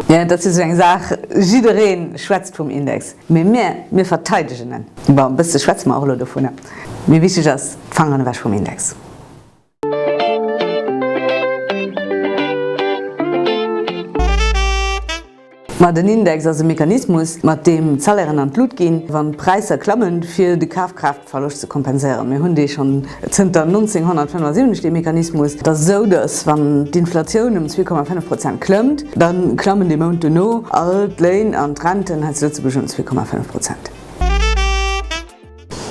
Jen, Dat ass jo esou eng Saach, jidderee schwätzt vum Index, mee mir, mir verteidegen en. Bon, e bësse schwätze mer och elo dovun, mee wichteg ass, d'Fangeren ewech vum Index. Ma den Index ass e Mechanismus, mat deem d'Salairen an d'Lut ginn, wann d'Präisser klammen, fir de Kafkraaftverloscht ze kompenséieren. Mir hunn dee schonn zënter 1975, dee Mechanismus. Et ass esou, datt wann d'Inflatioun ëm zwee Komma fënnef Prozent klëmmt, da klammen de Mount duerno all d'Léin an d'Renten hei zu Lëtzebuerg ëm zwee Komma fënnef Prozent.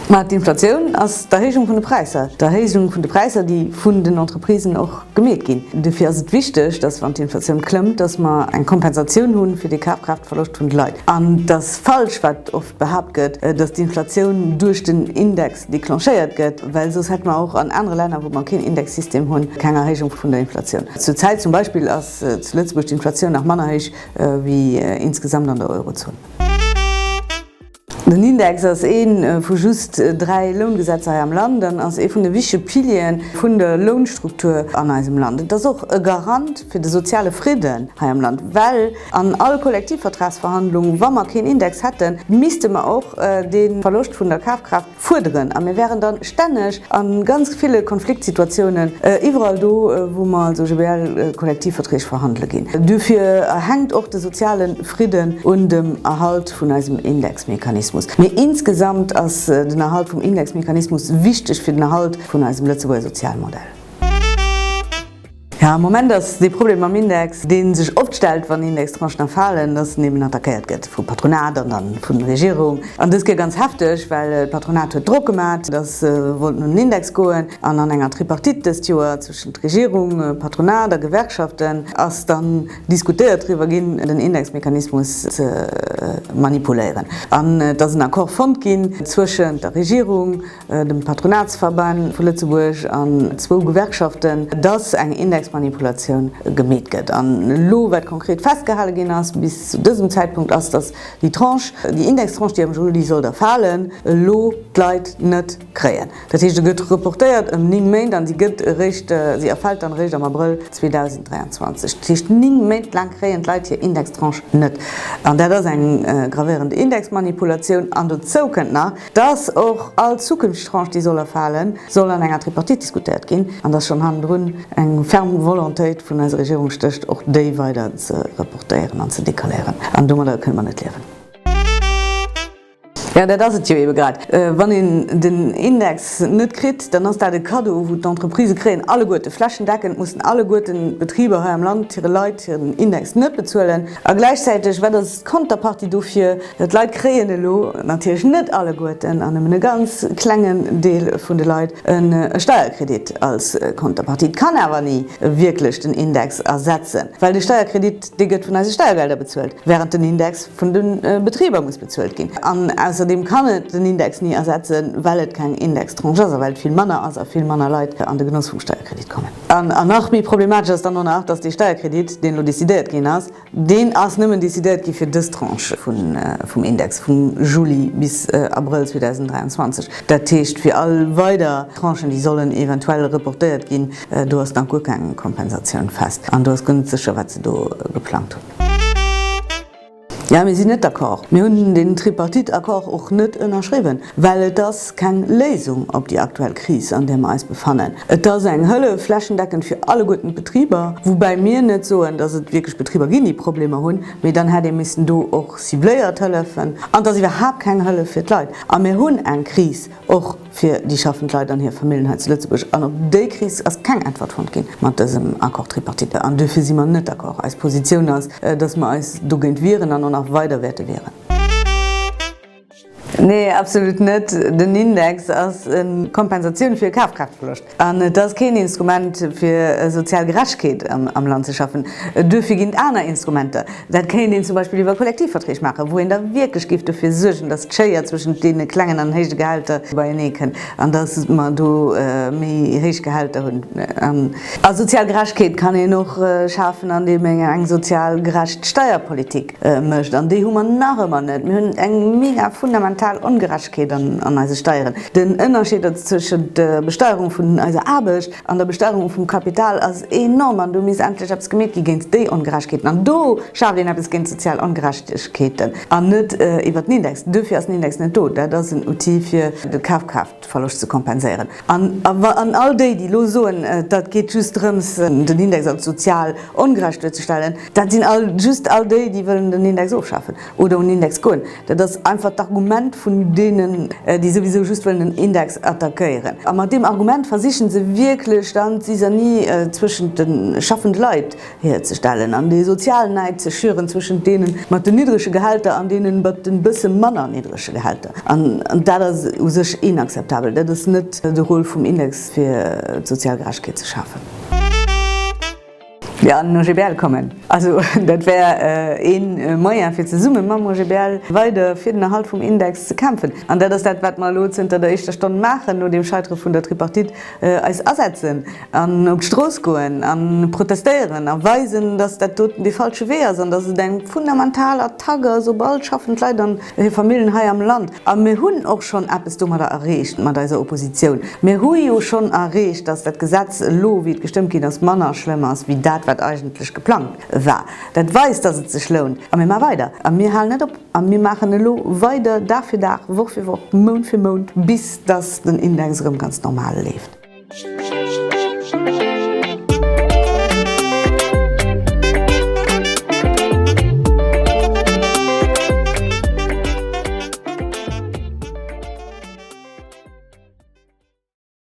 Mä d'Inflatioun ass d'Erhéijung vun de Präisser, d'Erhéijung vun de Präisser, déi vun den Entreprisen och gemeet ginn. Dofir ass et wichteg, datt, wann d'Inflatioun klëmmt, datt mer eng Kompensatioun hu fir dee Kafkraaftverloscht vun de Leit. An et ass falsch, wat oft behaapt gëtt, datt d'Inflatioun duerch den Index declenchéiert gëtt, well soss hätte mer och an anere Länner, wou mer keen Indexsystem hunn, keng Erhéijung vun der Inflatioun. Zur Zäit zum Beispill ass zu Lëtzebuerg d'Inflatioun nach manner héich wéi insgesamt an der Eurozon. Den Index ass ee vu just dräi Loungesetzer hei am Land an ass ee vun de wichtege Piliere vun der Lounstruktur an eisem Land. Et ass och e Garant fir de soziale Fridden hei am Land, well an all Kollektivvertragsverhandlung, wa mer keen Index hätten, misste mer och dee Verloscht vun der Kafkraaft, Fuerderen. A mir wären dann stänneg a ganz ville Konfliktsituatiounen, iwwerall do, wou mer also GBL, Kollektivverträg verhandele ginn. Duerfir hänkt och de soziale Fridden un dem Erhalt vun eisem Indexmechanismus. Mee insgesamt ass den Erhalt vum Indexmechanismus wichteg fir den Erhalt vun eisem Lëtzebuerger Sozialmodell. Ja, am Moment ass dee Problem mam Index, deen sech oft stellt, wann Indextranchen erfalen, dass en eben attackéiert gëtt vum Patronat an dann vun der Regierung. An dës Kéier ganz hefteg, well d'Patronat huet Drock gemaat, dass se wollten un den Index goen. An an enger Tripartite dëst Joer zwëschent Regierung, Patronat a Gewerkschaften ass dann diskutéiert driwwer ginn, den Indexmechanismus ze manipuléieren. An et ass en Accord fonnt ginn zwëschent der Regierung dem Patronatsverband vu Lëtzebuerg an zwou Gewerkschaften, dass eng Indexmanipulatioun gemeet gëtt. An elo, wat konkret festgehale ginn ass bis zu dësem Zäitpunkt, ass, dass déi Tranche, déi Indextranche, déi am Juli sollt erfalen, elo d'Leit net kréien. Dat heescht, se gëtt reportéiert ëm ning Méint an si gëtt eréischt, si erfält dann eréischt am Abrëll 2023. Dat heescht, ning Méint laang kréien d'Leit hir Indextranche net. An dat ass eng gravéierend Indexmanipulatioun. An dozou kënnt nach, Dass och all Zukunftstranche, déi soll erfalen, soll an enger Tripartite diskutéiert ginn, an dass schonn hannendrun eng ferm Volontéit vun eiser Regierung stécht, och déi weider ze reportéieren an ze décaléieren. An domadder kënne mer net liewen. Jo, dat ass et jo eebe grad. Wann een den Index net kritt, dann ass dat e Cadeau, wou d'Entreprisë kréien, alleguerten. Flächendeckend mussen alleguerten d'Betriber hei am Land hire Leit hiren Index net bezuelen. A gläichzäiteg, wat ass Konterpartie dofir, d'Leit kréien elo, natierlech net alleguerten an nëmmen e ganz klengen Deel vun de Leit, e Steierkredit als Konterpartie. Et kann awer ni wierklech den Index ersetzen, well de Steierkredit, dee gëtt vun eise Steiergelder bezuelt, wärend den Index vun de Betriber muss bezuelt ginn. An ausserdeem kann et den Index ni ersetzen, well et keng Indextranche ass a well et vill manner ass a vill manner Leit an de Genoss vum Steierkredit kommen. An nach méi problematesch ass dann och nach, dass dee Steierkredit, deen elo decidéiert ginn ass, Deen ass nëmmen decidéiert gi fir dës Tranche vum Index vum Juli bis Abrëll 2023. Dat heescht, fir all weider Tranchen, déi sollen eventuell reportéiert ginn, do ass nach guer keng Kompensatioun fest an do ass guer net sécher, wat se do geplangt hunn. Jo, mir sinn net d'accord. Mir hunn den Tripartite-Accord och net ënnerschriwwen, well et ass keng Léisung op déi aktuell Kris, an där mer eis befannen. Et ass eng Hëllef flächendeckend fir alleguerten d'Betriber, woubäi mir net soen, dass et wierklech Betriber ginn, déi Problemer hunn, mee dann hätt ee missen do och cibléiert hëllefen. An et ass iwwerhaapt keng Hëllef fir d'Leit. A mir hunn eng Kris och fir déi schaffend Leit an hir Famillen hei zu Lëtzebuerg. An op déi Kris ass keng Äntwert fonnt ginn mat dësem Accord tripartite. An duerfir si mer net d'accord. Eis Positioun ass, dass mer eis dogéint wieren an och nach weider wäerte wieren. Nee, absolut net. Den Index ass e Kompensatioun fir Kafkraaftverloscht an et ass keen Instrument fir sozial Gerechkeet am Land ze schaffen. Duerfir ginn et aner Instrumenter. Dat kéint een zum Beispill iwwer Kollektivverträg maachen, wou een da wierklech géif dofir suergen, datt d'Schéier zwëschent deene klengen an héije Gehälter beienee kënnt an datt mer do méi héich Gehälter hunn. A sozial Gerechkeet kann een och schafen, andeem een eng sozial gerecht Steierpolitik Mécht, an déi hu mer nach ëmmer net. Mir hunn eng mega fundamental Ongerechtegkeet an eise Steieren. Den Ënnerscheed tëschent der Besteierung vun eiser Aarbecht an der Besteierung vum Kapital ass enorm an do misst endlech eppes gemeet gi géint déi Ongerechtegkeeten. An do schaaft een eppes géint d'sozial Ongerechtegkeeten an net iwwert den Index. Duerfir ass den Index net do. Dat ass en Outil fir de Kafkraaft. Verloscht ze kompenséieren. An all déi, déi elo soen, dat geet just drëms, den Index als sozial ongerecht duerzestellen, dat sinn just all déi, déi wëllen den Index ofschafen oder un den Index goen. Dat ass einfach d'Argument vun deenen, déi souwisou just wëllen den Index attackéieren. A mat deem Argument versichen se wierklech dann d'Zizanie zwëschent de schaffend Leit, hierzestellen an dee sozialen Näid ze schüren zwëschent deenen mat den niddrege Gehälter an deenen mat den bësse manner niddrege Gehälter. An dat ass u sech inakzeptabel. Dat ass net de Rôle vum Index fir d'sozial Gerechtegkeet ze schafen. Fir an den OGBL kommen. Also dat wär ee Moyen fir zesumme mam OGBL weider fir den Erhalt vum Index ze kämpfen. An dat ass dat wat mer elo zënter der éischter Stonn maachen no deem Scheitere vun der Tripartite. Eis asetzen an op d'Strooss goen a protestéieren a weisen, datt dat doten dee falsche Wee ass an datt et eng fundamental Attack ass op all schaffend Leit an hir Famillen hei am Land. A mir hunn och schonn eppes domadder erreecht, mat eiser Oppositioun. Mir hu jo schonn erreecht, datt dat Gesetz elo, wéi et gestëmmt ginn ass, manner schlëmm ass wéi dat, wat eigentlech geplangt war. Dat weist, datt et sech lount. A mir maache weider a mir halen net op. A mir maachen elo weider, Dag fir Dag, Woch fir Woch, Mount fir Mount, bis datt den Index erëm ganz normal leeft.